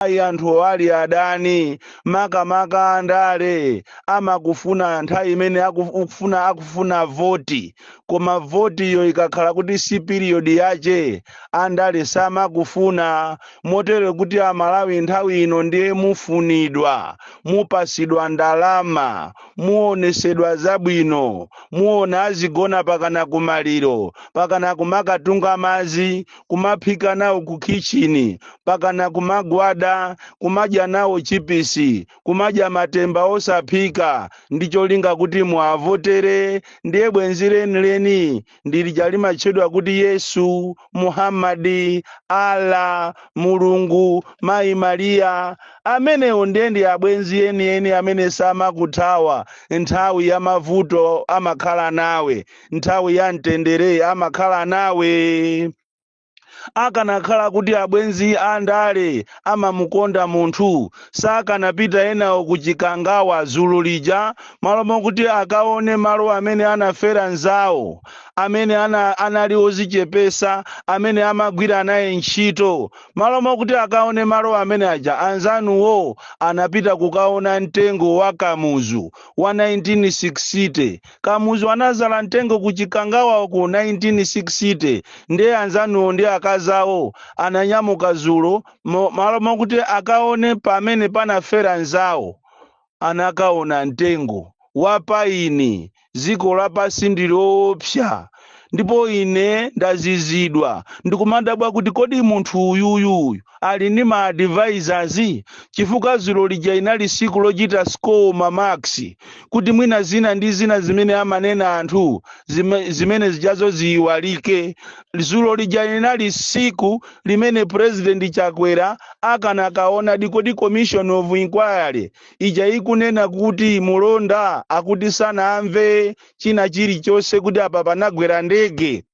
ayi anthu ali adani makamaka andale amakufuna nthawi imene akufuna voti koma votiyo ikakhala kuti si piriyodi yache andale samakufuna motero kuti amalawi nthawi ino ndiye mufunidwa mupasidwa ndalama muonesedwa zabwino muona azigona pakana kumaliro pakana kumakatunga madzi kumaphika nawo ku kitchini pakana kumagwada kumadya nawo chipisi kumadya matemba osaphika ndi cholinga kuti muavotere ndiye bwenzi lenileni ndilija limatchedwa kuti yesu muhammadi ala mulungu mayi mariya amenewo ndiye ndi abwenzi enieni amene samakuthawa nthawi ya mavuto amakhala nawe nthawi ya mtendere amakhala nawe akanakhala kuti abwenzi a ndale amamukonda munthu sakanapita enawo ku chikangawa zulo lija malo mokuti akaone malo amene anafera nzawo amene anali ozichepesa amene amagwira naye ntchito malo mokuti akaone malo amene aja anzanuwo anapita kukaona mtengo wa kamuzu wa 1960 Kamuzu anazala mtengo ku chikangawa uko 1960 ndiye anzanuwo ndi akazi awo ananyamuka zulo malo mokuti akaone pamene panafera nzawo anakaona mtengo wa paini dziko lapasi ndi loopsa ndipo ine ndazizidwa ndikumadabwa kuti kodi munthu uyuyu ali ndi ma advisors chifukwa zulo lija inali siku lochita score ma marks kuti mwina zina ndi zina zimene amanena anthu zimene zijazo ziyiwalike zulo lija inali siku limene president chakwera akanakaona di kodi commission of inquiry ija ikunena kuti mulonda akuti sanamve china chilichonse kuti apa panagwera ndege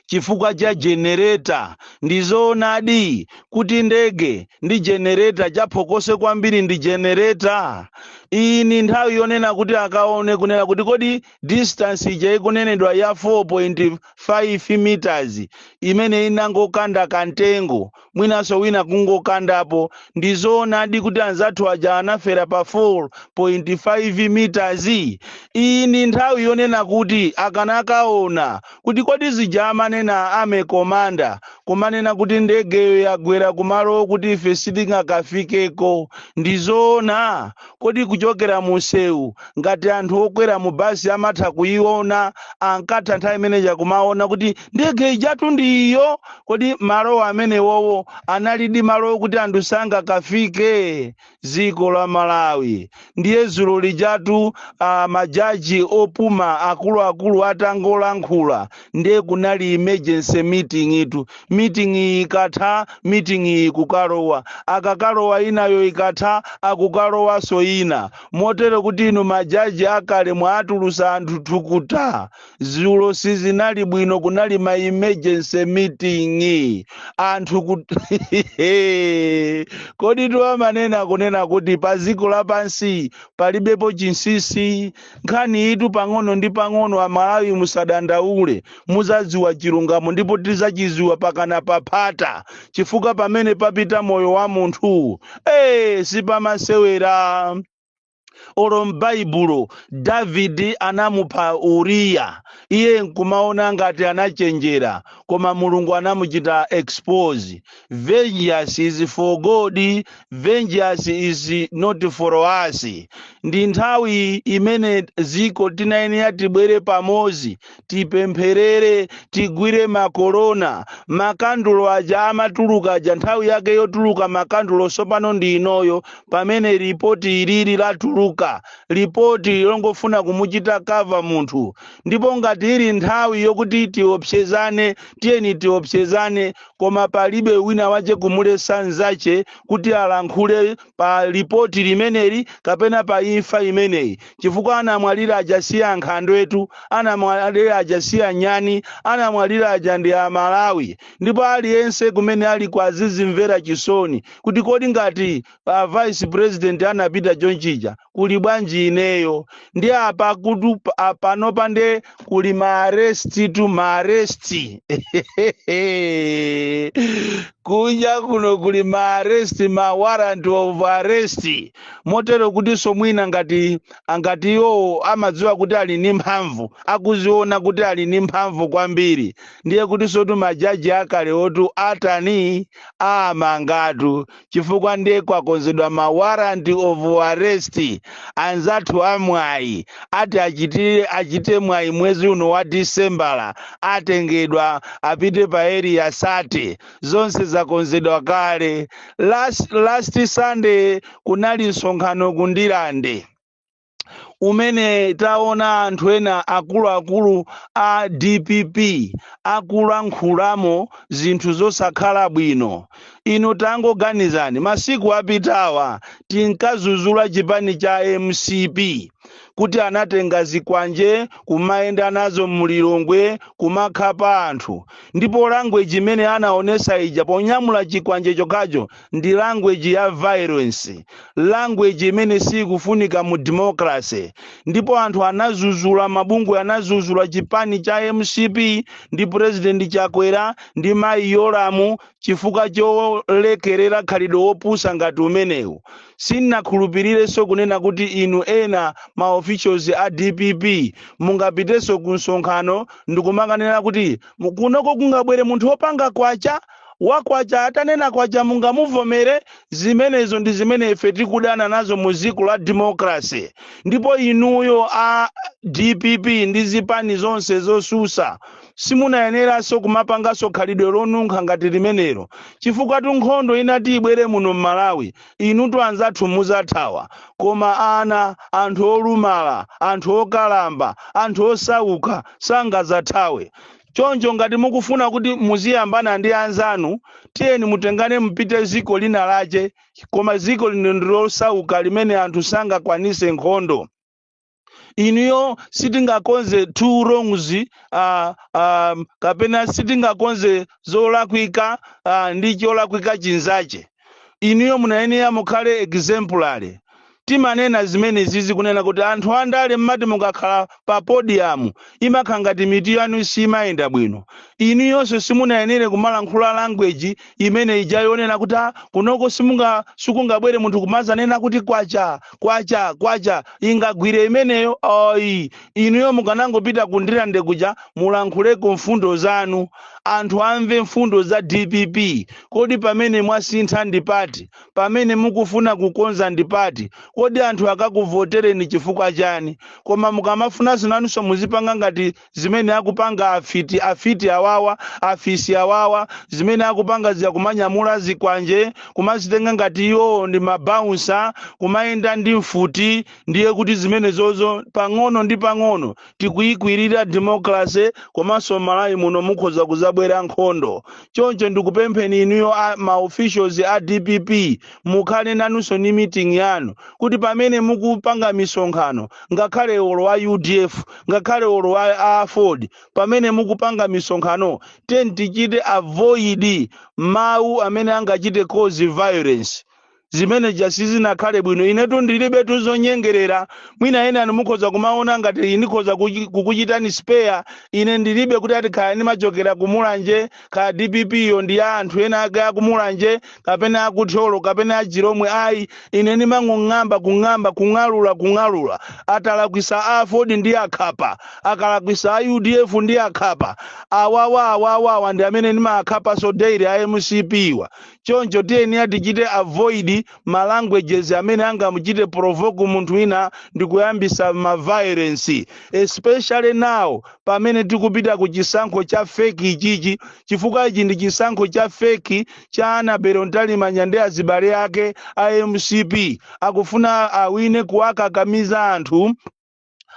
chifukwa cha jenereta ndizoonadi kuti ndege ndi jenereta chaphokoso kwambiri ndi jenereta iyi ndi nthawi yonena kuti akaone kunena kuti kodi distance ija ikunenedwa ya 4.5 meters imene inangokanda kamtengo mwinanso wina kungokandapo ndizoonadi kuti anzathu aja anafera pa 4.5 meters iyi ndi nthawi yonena kuti akanakaona kuti kodi zija amanena army commander kumanena kuti ndegeyo yagwera kumalo okuti ife sitingakafikeko ndizoona Kodi kuchokera mu msewu, ngati anthu okwera mu basi amatha kuyiona, ankatha nthawi imene ija kumaona kuti ndege ijatu ndi iyo? Kodi malowo amenewowo analidi malo okuti anthu sangakafike? Dziko la Malawi. Ndiye dzulo lijatu majaji opuma akuluakulu atangolankhula, ndiye kunali emergency meeting itu meeting iyi ikatha meeting iyi kukalowa akakalowa inayo ikatha akukalowanso ina motero kuti inu majaji akale mwatulusa anthu thukuta zulo sizinali bwino kunali ma emergency meeting anthu kut... kodi tiwamanena kunena kuti pa dziko lapansi palibepo chinsisi nkhaniyitu pang'ono ndi pang'ono amalawi musadandaule muzadziwa chilungamo ndipo tizachiziwa mpakana paphata chifukwa pamene papita moyo wa munthu ee sipamasewera olo m'baibulo davidi anamupha uriya iye nkumaona ngati anachenjera koma mulungu anamuchita expose Vengeance is for God, vengeance is not for us. Ndi nthawi imene dziko tinayenera tibwere pamodzi, tipempherere, tigwire makorona, makandulo aja amatuluka aja, nthawi yake yotuluka makandulo tsopano ndi inoyo, pamene ripoti ilili latuluka, ripoti longofuna kumuchita cover munthu. Ndipo ngati ili nthawi yokuti tiopsezane, tiyeni tiopsezane koma palibe wina wache kumuletsa mnzache kuti alankhule pa lipoti limeneli kapena pa imfa imeneyi chifukwa anamwalira aja si ankhandwetu anamwalira aja si anyani anamwalira aja ndi amalawi ndipo aliyense kumene aliko azizimvera chisoni kuti kodi ngati a vice president anapita chonchija kuli bwanji ineyo ndi apa kuti pa- panopa nde kuli maarestitu maaresti kunja kuno kuli maaresti ma warrant of arrest motero kutinso mwina ngati angati iwowo amadziwa kuti ali ndi mphamvu akuziona kuti ali ndi mphamvu kwambiri ndiye kutinsotu majaji akalewotu atani awamangatu chifukwa ndiye kwakonzedwa ma warrant of arrest anzathu amwayi ati achitire achite mwayi mwezi uno wa disembala atengedwa apite pa Area 30 zonse zakonzedwa kale last, last sunday kunali msonkhano ku Ndirande umene taona anthu ena akuluakulu a dpp akulankhulamo zinthu zosakhala bwino inu tangoganizani masiku apitawa tinkazuzula chipani cha mcp kuti anatenga zikwanje kumayenda nazo mulilongwe kumakhapa anthu ndipo language imene anaonesa ija ponyamula chikwanje chokhacho ndi language ya violence language imene sikufunika mu democracy ndipo anthu anazuzula mabungwe anazuzula chipani cha mcp ndi president chakwera ndi mayi yolamu chifukwa cholekerera khalidwe wopusa ngati umenewu sinakhulupirirenso kunena kuti inu ena ma officials a dpp mungapitenso ku msonkhano ndikumakanena kuti kunoko kungabwere munthu wopanga kwacha Wa kwacha atanena kwacha mungamuvomere? Zimenezo ndi zimene ife tikudana nazo mu dziko la democracy. Ndipo inuyo a dpp ndi zipani zonse zosusa simunayeneranso kumapanganso khalidwe lonunkha ngati limenelo. Chifukwatu nkhondo inati ibwere muno m'Malawi, inutu anzathu muzathawa. Koma ana, anthu olumala, anthu okalamba, anthu osauka sangazathawe. choncho ngati mukufuna kuti muziyambana ndi anzanu tiyeni mutengane mupite ziko lina lache koma ziko lino ndilosauka limene anthu sangakwanise nkhondo inuyo sitingakonze two wrongs uh, um, kapena sitingakonze zolakwika uh, ndi cholakwika chinzache inuyo munayenera mukhale exemplary timanena zimenezizi kunena kuti anthu andale mmati mukakhala pa podium imakhala ngati mitu yanu simayenda bwino inuyonso simunayenere kumalankhula language imene ija yonena kuti "Ah, kunoko sikungabwere munthu kumazanena kuti kwacha kwacha kwacha ingagwire imeneyo ayi inuyo mukanangopita ku ndirande kuja mulankhuleko mfundo zanu anthu amve mfundo za dpp kodi pamene mwasintha ndi pati pamene mukufuna kukonza ndi pati kodi anthu akakuvotereni chifukwa chani koma mukamafunanso nanunso muzipanga ngati zimene akupanga afiti afiti awawa afisi awawa zimene akupanga zija kumanyamula zikwanje kumazitenga ngati iwowo ndi mabaunsa kumayenda ndi mfuti ndiye kuti zimenezozo pang'ono ndi pang'ono tikuyikwirira democracy komanso malawi muno mukhoza kuzabwera nkhondo choncho ndikupempheni inuyo a ma officials a dpp mukhale nanunso ni meeting yanu kuti pamene mukupanga misonkhano ngakhale olo a udf ngakhale olo a a aford pamene mukupanga misonkhano tiyeni tichite avoid mawu amene angachite cause violence zimene ja sizinakhale bwino inetu ndilibe tuzonyengerera mwina ena anu mukhoza kumaona ngati ndikhoza kuchi- kukuchitani speya ine ndilibe kuti ati kaya ndimachokera kumulanje kaya dpp yo ndi ya anthu ena ake akumulanje kapena akuthyolo kapena achilomwe ayi ine ndimangong'amba kung'amba kung'alula kung'alula atalakwisa aford ndiakhapa akalakwisa a udf ndiakhapa awawa awawawa ndi amene ndimaakhapaso daily a mcp wa choncho tiyeni tichite avoid ma languages amene angamuchite provoke munthu wina ndi kuyambisa ma violence especially now pamene tikupita ku chisankho cha fake ichichi chifukwa ichi ndi chisankho cha fake cha annabel mtalimanja ndi azibale ake a mcp akufuna awine kuwakakamiza anthu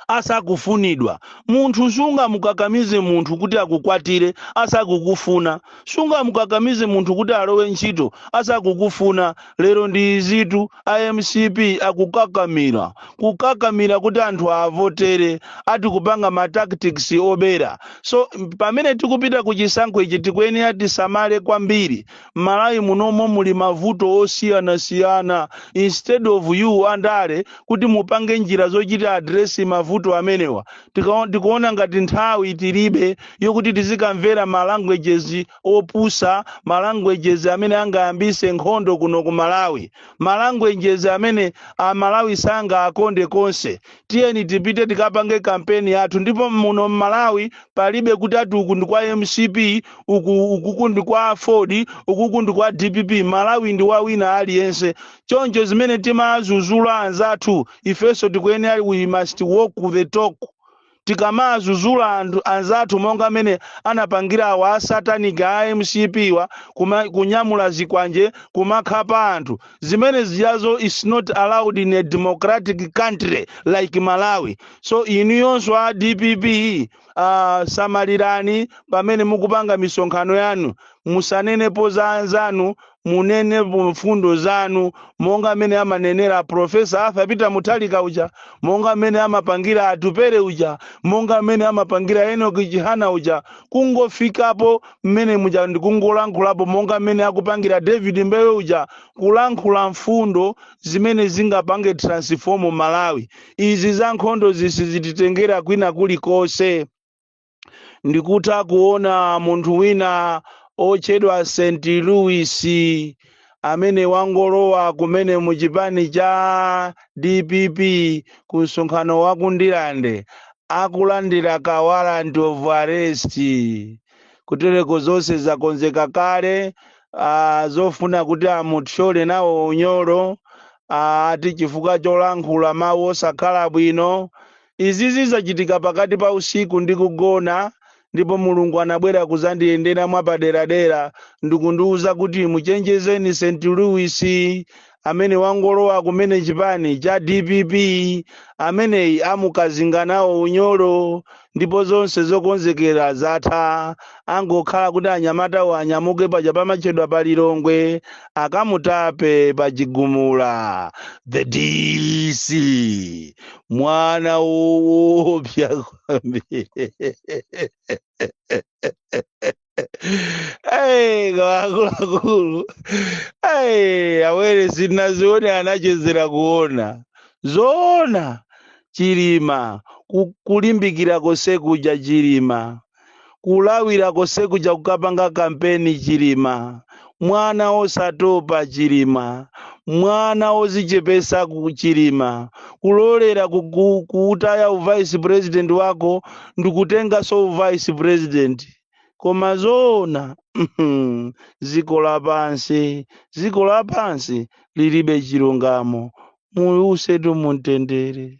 asakufunidwa. Munthu sungamukakamize munthu kuti akukwatire asakukufuna. Sungamukakamize munthu kuti alowe ntchito asakukufuna. Lero ndi izitu, a mcp akukakamira. Kukakamira kuti anthu aavotere. Ati kupanga ma tactics obera. So, pamene tikupita ku chisankho ichi tikuyenera tisamale kwambiri. Malawi munomo muli mavuto osiyanasiyana instead of you andale kuti mupange njira zochita address mavuto amenewa tikaon, tikuona ngati nthawi tilibe yokuti tizikamvera ma languages opusa ma languages amene angayambise nkhondo kuno ku Malawi ma languages amene a Malawi sangaakonde konse tiyeni tipite tikapange kampeni yathu ndipo muno mmalawi palibe kuti ati uku ndi kwa mcp uku ukuku ndi kwa aford ukuku ndi kwa dpp malawi ndi wa wina aliyense choncho zimene timazuzula anzathu ifenso tikuyenera we must walk the talk tikamazuzula anzathu monga amene anapangira awa asatanic a mcp wa kuma, kunyamula zikwanje kumakhapa anthu zimene zijazo is not allowed in a democratic country like malawi so inuyonso a dpp uh, samalirani pamene mukupanga misonkhano yanu musanenepo za anzanu munenepo mfundo zanu monga amene amanenera profesa arthur peter mutharika uja monga amene amapangira atupere uja monga amene amapangira enoki chihana uja kungofikapo mmene muja ndikungolankhulapo monga mmene akupangira david mbewe uja kulankhula mfundo zimene zingapange transform malawi izi za nkhondo sizititengera kwina kulikonse ndikutha kuona munthu wina otchedwa st louis amene wangolowa kumene mu chipani cha dpp ku msonkhano wa ku ndilande akulandira warrant of arrest kutereko zonse zakonzeka kale ah, zofuna kuti amuthyole nawo unyolo ah, ati chifukwa cholankhula mawu osakhala bwino Izi zachitika pakati pa usiku ndikugona ndipo Mulungu anabwera kudzandiyendera mwapaderadera ndikundiuza kuti muchenjezeni St Louis amene wangolowa kumene chipani cha dpp ameneyi amukazinga nawo unyolo ndipo zonse zokonzekera zatha angokhala kuti anyamatawo anyamuke paja pamatchedwa pa Lilongwe akamutape pa Chigumula. The DC. mwana woopsa kwambiri Ai, akuluakulu ai awone sindinazione anachezera kuona zoona chilima ku- kulimbikira konse kuja chilima kulawira konse kuja kukapanga kampeni chilima mwana wosatopa chilima mwana wodzichepetsa chilima kulolera ku- ku- kuutaya uvice president wako ndikutenganso uvice president koma zoona mhm, dziko lapansi dziko lapansi lilibe chilungamo muuse mumtendere